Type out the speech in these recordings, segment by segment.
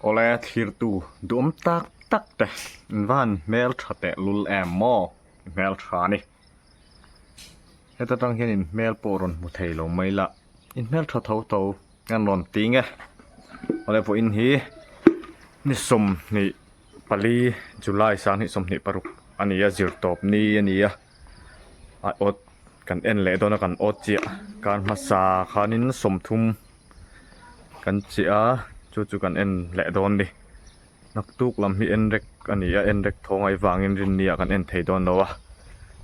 Awle thirtu duhawm tak tak te in van hmel tha teh lul em maw i hmel tha a ni heta tang hian in hmel pawh rawn hmu thei lo mai la i hmel tha tho tho hian rawn ti nge awle vawiin hi ni sawmhnih-- Pali July sang hnih sawmhnih paruk a ni a zirtawp ni a ni a ah awt kan en leh dawn a kan awt chiah khan hmasa khanin sawmthum kan cheh a chu chu kan en leh dawn a ni naktuk lam hi en rek a ni a en rek thawngai vangin rin nia kan en thei dawn lo a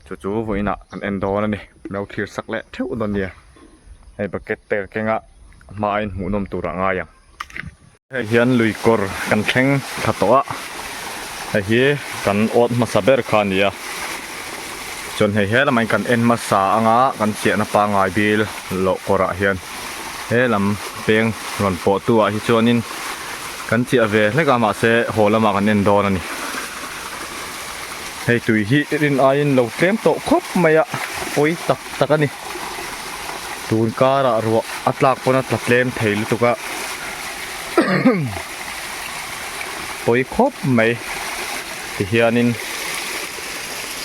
chu chu vawiinah kan en dawn a ni no thlir sak leh theuh dawn a nia hei bucket te a kenga a hma ah hian hmuhnawm tur ah a ngai ang. Hei hian lui kawr kan thleng tha tawh a, hei hi kan awt hmasa ber kha a ni a, chuan hei he lamah hian kan en hmasa anga kan chiahna pangngai bil loh kawrah hian he lam peng rawn pawh tu ah hi chuanin kan chiah ve hlek a, mahse haw lamah kan en dawn a ni. Hei tui hi rin aiin lo tlem tawh khawp mai a, pawi tak tak a ni. tun karah ruah a tlak pawn a tla tlem thei lutuk a pawi khawp mai tihianin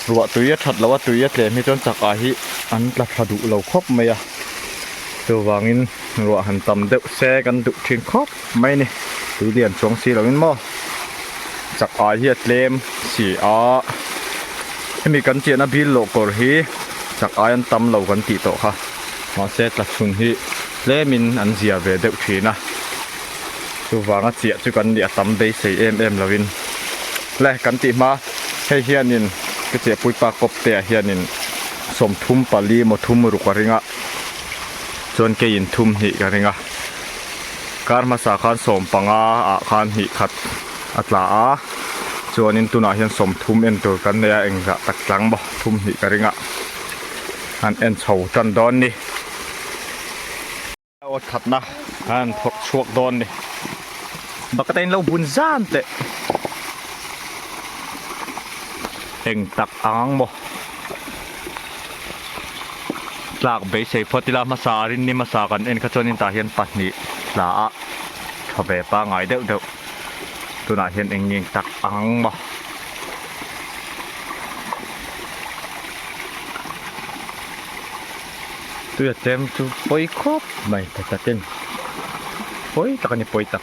ruah tui a that loh a tui a tlem hi chuan chakah hi an tla thla duh lo khawp mai a chuvangin ruah han tam deuh se kan duh thin khawp. Mai ni, tui lian chuang si lovin maw? Chak ai hi a tlem si a, hemi kan chiahna bil loh kawr hi chak ai an tam lo kan tih tawh kha. Mahse tla chhun hi tlemin an zia ve deuh thin a, chuvanga chiah chu kan nih a tam beisei em em lovin. Hle, kan tih hma hei hianin ka che puipa kawptea hianin sawmthum pali maw thum ruk a ring a, chuan keiin thum hnih ka ring a. Kar hmasa khan sawm panga ah khan hnih khat a tla a, chuanin tunah hian sawm thum en tur kan nei a, eng zah tak tlang maw thum hnih ka ring a, han en chho tan dawn ni. Aw thatna han phawrh chhuak dawn ni. Bucket a in lo bun zan teh. Eng tak ang ang maw. tlak beisei phawt ila hmasa a rinni hmasa kan en kha chuan in tah hian pahnih tla a thaw ve pangai deuh deuh tunah hian eng nge eng tak ang maw. Tui a tlem chu pawi khawp mai tha takin pawi tak a ni pawi tak.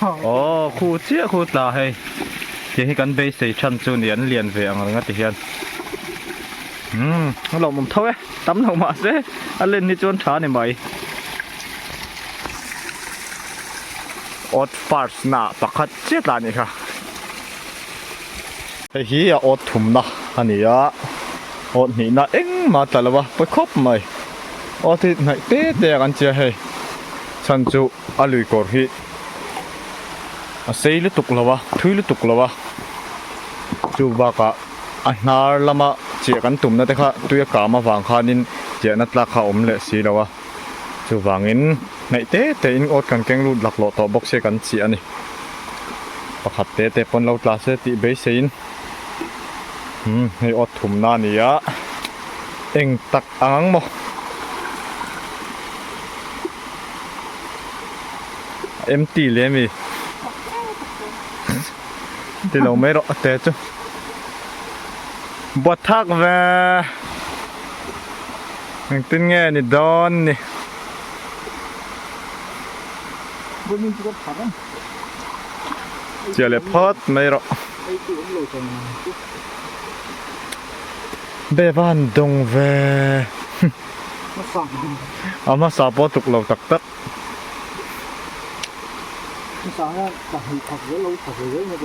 Aww khu chiah khu tla hei kei hi kan beisei than chu ni an lian ve ang ringa ti hian umm a lo mum tho e tam lo mah se a len hi chuan tha ni mai odd parts na pakhat chiah tla ni kha. Hei hi a awt thumna a ni a, awt hnihna engmah tla lo a pawi khawp mai. Awt hi hnaih te te a kan tia hei, chhan chu a lui kawr hi a sei lutuk lo a, a thui lutuk lo a. Chu bakah a hnar lama chiah kan tumna te kha tui a kâm avang khanin chiahna tlak kha awm leh si lo a. Chuvangin hnaih te tein awt kan keng lut laklawh tawh bawk se kan chih a ni. Pakhat te te pawn lo tla se tih beiseiin umm hei awt thumna a ni a, eng tak ang ang maw. A empty leh ami? Ti lo mai rawh a te chu. Buatthak ve. Engtin nge ni dawn ni. Chiah leh phât mai rawh. Bevan dawng ve. A hmasa pawh a tuk lo tak tak.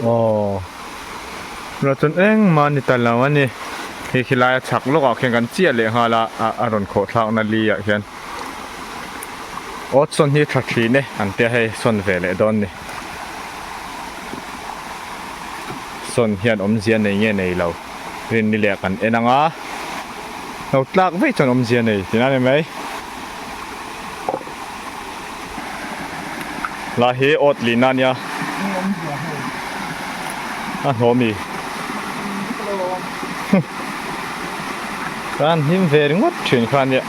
Aww ruah chun engmah a ni ta lo a ni hei khi laia chak lawkah khian kan chiah leh nghal a a rawn khawh thlakna liah hian aw sawn hi tha thin e an tia hei sawn ve leh dawn ni sawn hian awmzia nei nge nei lo rin ni leh kan en ang a lo tlak vei chuan awmzia nei tina ni mai. Hla hi awt lihna a nia. A hnawh mi. Kan hlim ve ringawt thin kha nia.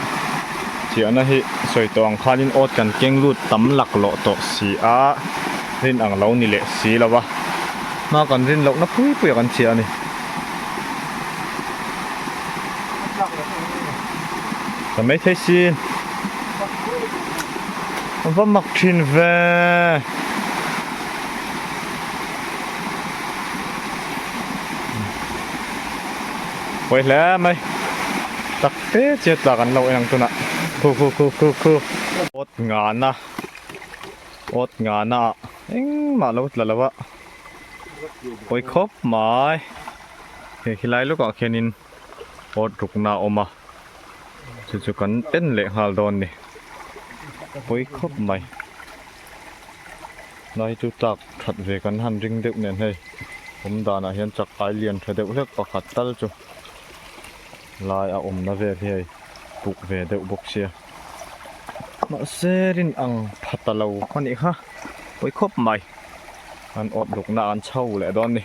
Chiahna hi sawi tawh ang khanin awt kan keng lut tam lak loh tawh si a, rin ang lo ni leh si lo va. Hma kan rin lohna pui puia kan chiah a ni. Ka maithei si. Va mak thin ve. Pawi hle mai. Takte che tlak an lo en ang tunah. Khu khu khu khu khu. Awt ngana. Awt ngana ah engmah a lo tla lo a. Pawi khawp mai. Hei helai lawkah khianin awt rukna a awm a. chu chu kan en leh nghal dawn ni pawi khawp mai nai chu tlak that ve kan han ring deuh nen hei awm danah hian chak ai lian tha deuh hlek pakhat tal chu lai a awmna vel hi hei puk ve deuh bawk sia mahse rin ang pha ta lo a nih kha pawi khawp mai an awt luknaah an chho leh dawn ni.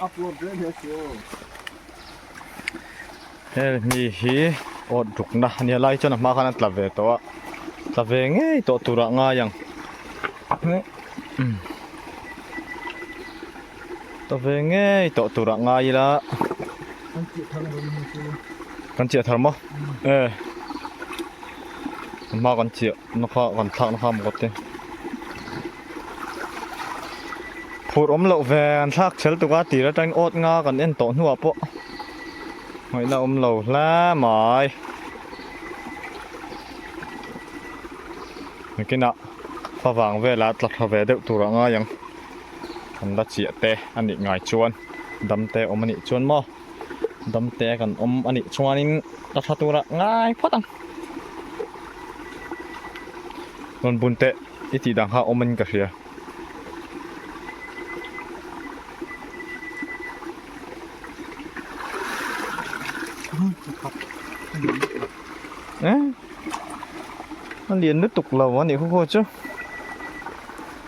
hel hmi hi awt rukna a nia lai chuan a hma khan a tla ve tawh a tla ve ngei tawh tur ah ngai ang tla ve ngei tawh tur ah ngai ila kan chiah thar maw e a hma kan chiah na kha kan thlak na kha maw ka ti. Phur awm loh ve an thlak chhel tuk a tir aṭangin awt nga kan en tawh hnuah pawh ngawihna a awm lo hle mai. Bikinah fa vang velah tla thla ve deuh tur a ngai ang. Kan la chiah te a nih ngai chuan dam te awm a nih chuan maw? damte kan awm a nih chuanin ka tha tura ngai phawt ang rawn bun teh i tih dang kha awmin ka hria eh a lian lutuk lo a nih khaw khaw chu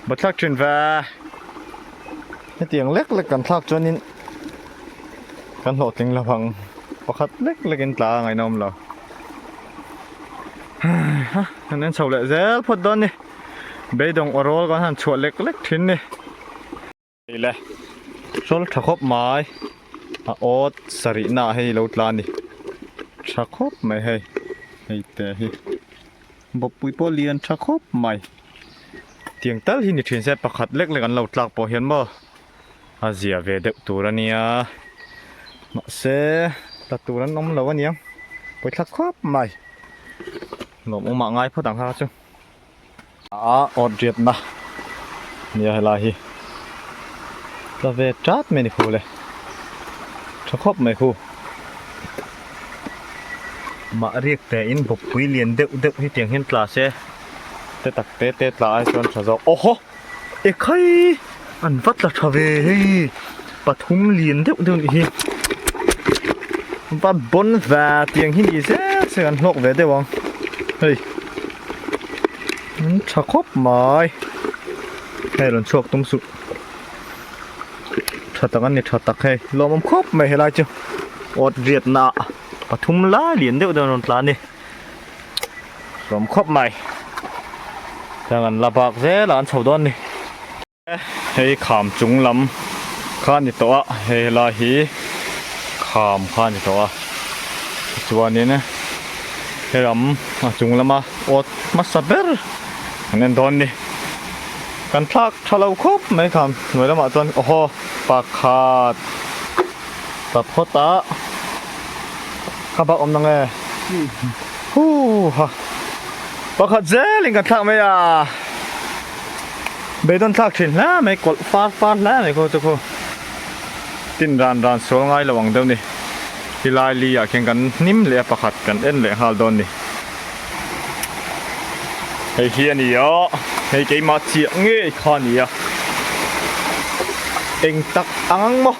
ba thlak thin va hetiang lek lek kan thlak chuanin kan hlawh tling lo vang pakhat lek lek in tla ngaina awm lo ha kan en chho leh zel phawt dawn ni beidawng awrawl kan han chhuah lek lek thin ni ei le sawl tha khawp mai a awt sarih na hei lo tla ni tha khawp mai hei hei te hi bawpui pawh lian tha khawp mai tiang tal hi ni thin se pakhat lek lek an lo tlak pawh hian maw a ziah ve deuh tur a nia mahse ta tur an awm lo a nia pawithlak khawp mai lawm awm ah ngai phawt ang kha chu a awt riat na nia helai hi ta ve tlat mai a ni khule tha khawp mai khu mah riak te in bawkpui lian deuh deuh hetiang hian class e te tak te te tla ai chuan tha zawk awha ekhai an va tla tha ve hei pathum lian deuh deuh nih hi va bawn va tiang hi ni zet zet an hlawk ve deuh ang hei an tha khawp mai hei rawn chhuak tum suh tha tak an ni tha tak hei lawmawm khawp mai helai chu awt riatna pathum lai lian deuh deuh an rawn tla a ni. Hlawm khawp mai. Heng an la bak zel a an chho dawn ni. Hei kham chung lam kha a ni tawh a, hei helai hi kham kha a ni tawh a. Tichuanin he ram a chung lama awt hmasa ber an en dawn ni. Kan thlak tha lo khawp mai kham hnuai lamah chuan awhaw pakhat. Ka phawt a ka bawk awm nang e huuha pakhat zel in kan thlak mai a beidon thlak thin hle mai kawlh far far hle mai kho chu kho tin ran ran sual ngai lo ang deuh ni i lai li ah khian kan hnim leh a pakhat kan en leh nghal dawn ni hei hi a ni a hei keimah chiah ngei kha a ni a eng tak ang ang maw.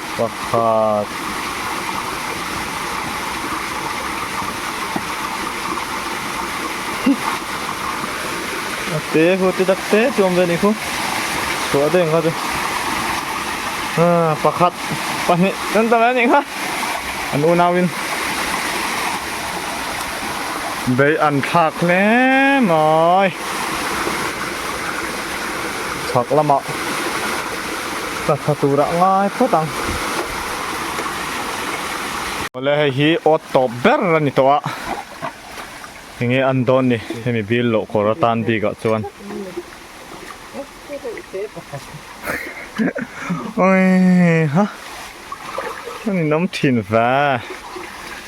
Pakhat. Te khaw te tak te chu awm ve a nih khaw. Chhuah daih ang kha chu. Ah, pakhat, pahnih chuan ta ve a nih kha. An unau in bei an thlak hle mai. Chhak lamah. ka tha turah ngai phawt ang. Awle hei hi awt tawp ber a ni tawh a, enge an dawn ni hemi bil loh kawr a tan bikah chuan. Awii ha, an inawm thin va,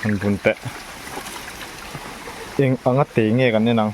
an bun teh eng a nga tei nge kan en ang.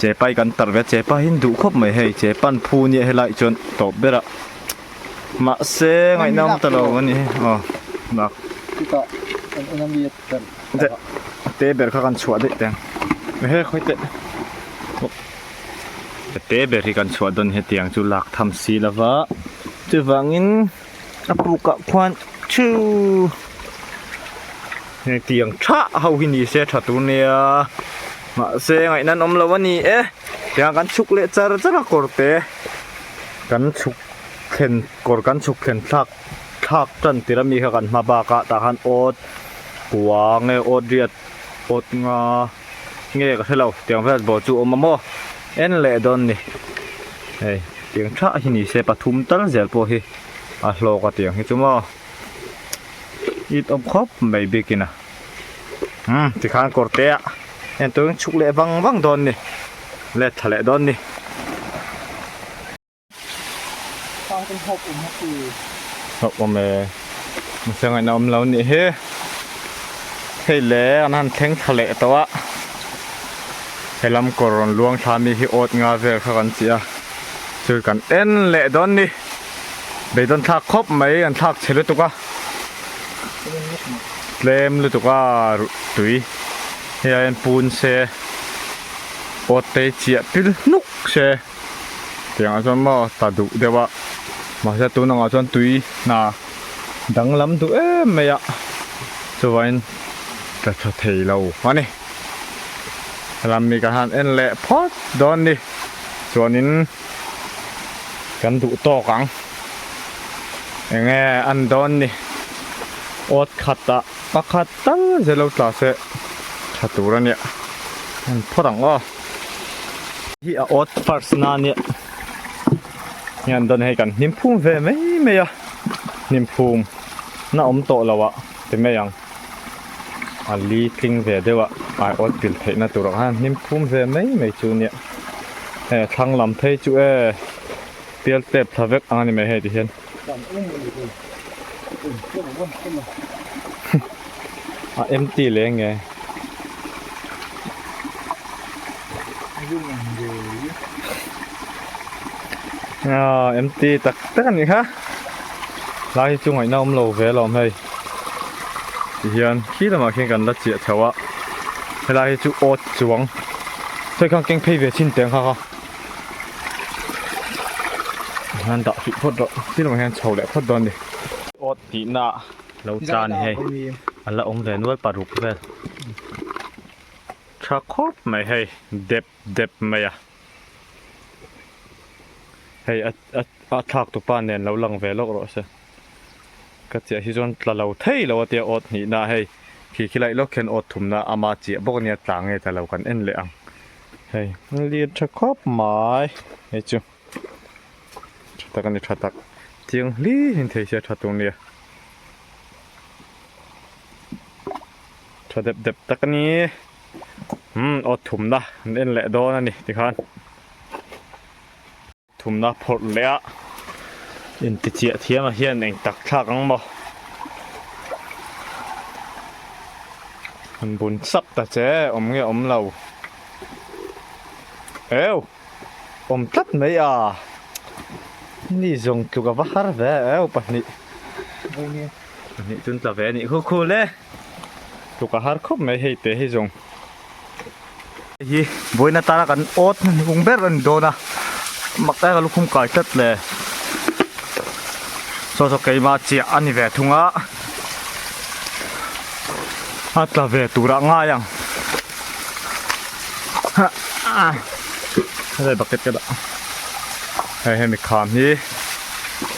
Che pai kan tarh ve che pahin duh khawp mai hei che pan phu nia helai chuan tawp ber a mahse ngaihna awm ta lo ani aw dak chutah kan en ami te ber kha kan chhuah daih teng ehe khawi teh te ber hi kan chhuah dawn hetiang chu lak tham si lova chuvangin A pukah khuan thu heng tiang tha ho hi ni se tha tur nia mahse ngaih nan awm lo a ni e tiang kan chhuk leh char char a kawr te kan chhuk thlen kawr kan chhuk thlen thlak thlak tan tir a mi kha kan hma bak a tah khan awt puang nge awt riat awt nga-- Nge ka hrelo tiang vel bo chu awm a maw en leh dawn ni hei tiang tha hi ni se pathum tal zel pawh hi a hlawk a tiang hi chu maw it awm khawp mai bikin a umm tikhan kawr te ah en tur chhuk leh vang vang dawn ni let tha leh dawn ni. Khang kan hawp awm a ti. Hawp awm e. Masa ngaihna awm lo nih hi. Hei le an han thleng thla leh tawh a. He lam kawr rawn luang thla mi hi awt nga vel kha kan tih a. Chu kan en leh dawn ni. Beidawn thlak khawp mai an thlak che lutuk a. Tlem lutuk a tui. Hei hian pun se. Awt te hi chiah pil hnuk se. tiangah chuan maw ta duh deuh a mahse tun angah chuan tui hna danglam duh em mai a chuvangin ka tha thei lo a ni hela mi ka han en leh phawt dawn ni chuanin kan duh tawk ang enge an dawn ni awt khat ah pakhat tal zelo tla se tha tur a nia en phawt ang aw. Hi a awt first na nia hian dawn hei kan hnim phum ve mai mai a hnim phum na awm tawh lo ah ti mai ang a li tling ve deuh a ai awt bil theih na tur ah khan hnim phum ve mai mai chu nia he thlang lam phei chu e pial tep thla vek ang a ni mai hei ti hian. a empty leh nge. Aa empty tak tak a ni kha hlai hi chu ngaihna awm lo ve alawm hei ti hian khi lamah khian kan la chiah chho a helai hi chu awt chuang sawi khang keng phei ve chhin teng kha kha. Hna dah hrih phawt rawh, tin rang hian chho leh phawt dawn a ni. Awt tihna lo ta ni hei, a la awm ve nual paruk vel. Tha khawp mai hei, dep dep mai a. Hei a thlak tu pa nen lo lang ve lawk rawh se. Ka chiah hi chuan tla lo thei lo atia awt hnihna hei, khi khi laih lawk hian awt thumna ama chiah bawk a nia, tla nge tla lo kan en leh ang. Hei an lir tha khawp mai hei chu tha tak ani tha tak chiang hli in thei sia tha tur nia tha dep dep tak ani umm aw thumna an en leh dawn ani tikhan. Thumna phawrh leh a, intichiah thiama hian eng tak thlak ang maw? Hun bun sap ta che, awm nge awm lo. Eww! Awm tlat mai a, ni zawng tluk a va har ve a, eww pahnih. Pahnih chu an tla ve a nih, khu khu le! Tluk a har khawp mai hei te hi zawng. Heihi buain atana kan awt hmun hung ber a ni dawn a, mak e ka lukhum kai tlat le. Saw saw keima chiah a ni ve thung a, a tla ve tur ah ngai ang. Helai bucket ka dah. Hei hemi kham hi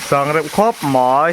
sang reuh khawp mai.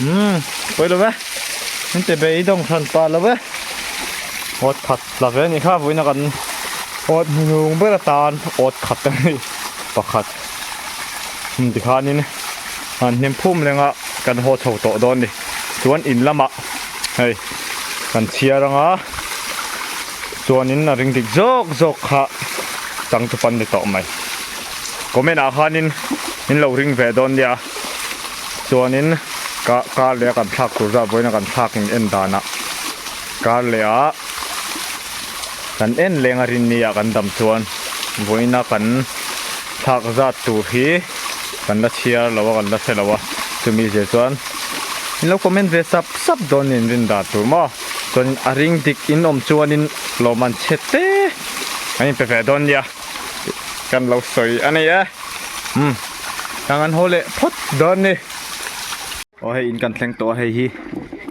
Umm, pawi lo ve. Hete be i dawng hran pah lo e. Awt khat la ve ni kha vuina kan awt hnu hnung ber atan awt khat a ni. Pakhat. Hum tikhanin han hnem phum lenga kan haw chho tawh dawn ni. Chuan in lama hei kan chhiar anga chuanin a ring dik zawk zawk kha changtu pan ni tawh mai. Comment ah khanin in lo ring ve dawn nia. Chuanin ka car leh a kan thlak tur zat vawiin a kan thlak in en dan a. Car leh a kan en leng a rin nia kan dam chuan vawiina kan thlak zat tur hi kan la chhiar lo a kan la hre lo a. Chumi zir chuan in lo comment ve sap sap dawn in rin dan tur maw. Chuanin a ring dik in awm chuanin lo man chhe te kan inpe ve dawn nia. kan lo sawi a ni e umm tang an haw leh phawt dawn ni aw hei in kan thleng tawh a hei hi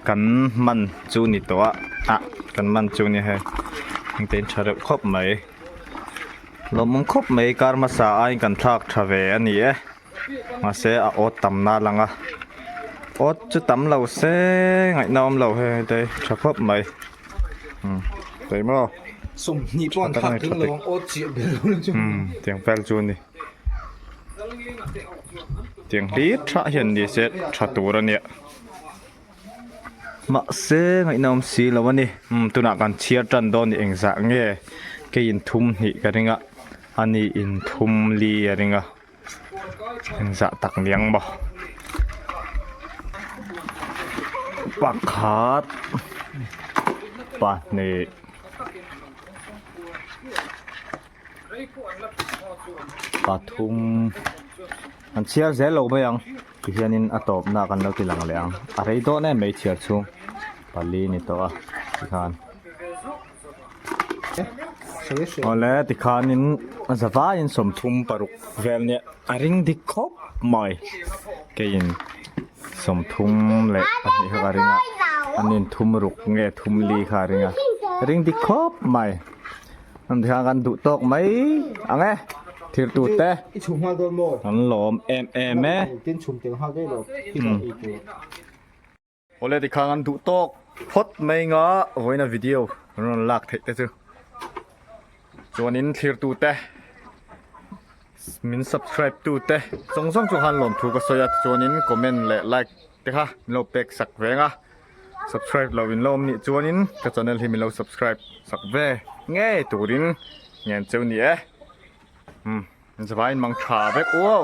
kan man chu ni tawh a ah kan man chu ni hei heng te in tha reuh khawp mai lawmawm khawp mai karmasa aiin kan thlak tha ve a ni e. Mahse a awt tam na lang a, awt chu tam lo se ngaihna a awm lo he hei te hi tha khawp mai chei maw sawmhnih pawh an khak thin lo ang awt chiah ber lo chu tiang fel chu a ni tiang hlir thah hian ni se tha tur a nia mahse ngaihna awm si lo a ni tunah kan chhiar tan dawn ni engzah nge kei in thum hnih ka ring a a ni in thum li a ring a. eng zah tak niang maw pakhat pahnih pathum an chhiar zel lo mai ang ti hian in a tawp na kan lo ti lang leh ang a rei dawn em mai chhiar chhung pali ni tawh a ti khan. Awle tikhanin zavaiin sawmthum paruk vel nia a ring dik khawp mai keiin sawmthum leh pahnih ho a ring a an inthum ruk nge thum li kha a ring a ring dik khawp mai an tikhan kan duh tawk mai ang e thir tu te i chhum hal dawn maw an lawm em em e tin chhum tel hal daih lo Awle ti khang an duh tawk phawt mai nga vawiina video kan rawn lak theih te chu chuanin thlir tu te min subscribe tu te zawng zawng chu han lawm thu ka sawi a tichuanin comment leh like te kha min lo pek sak ve ang a subscribe lo in lawm nih chuanin ka channel hi min lo subscribe sak ve ngei turin ngen cheu ni e um zawhain mang tha vek uau.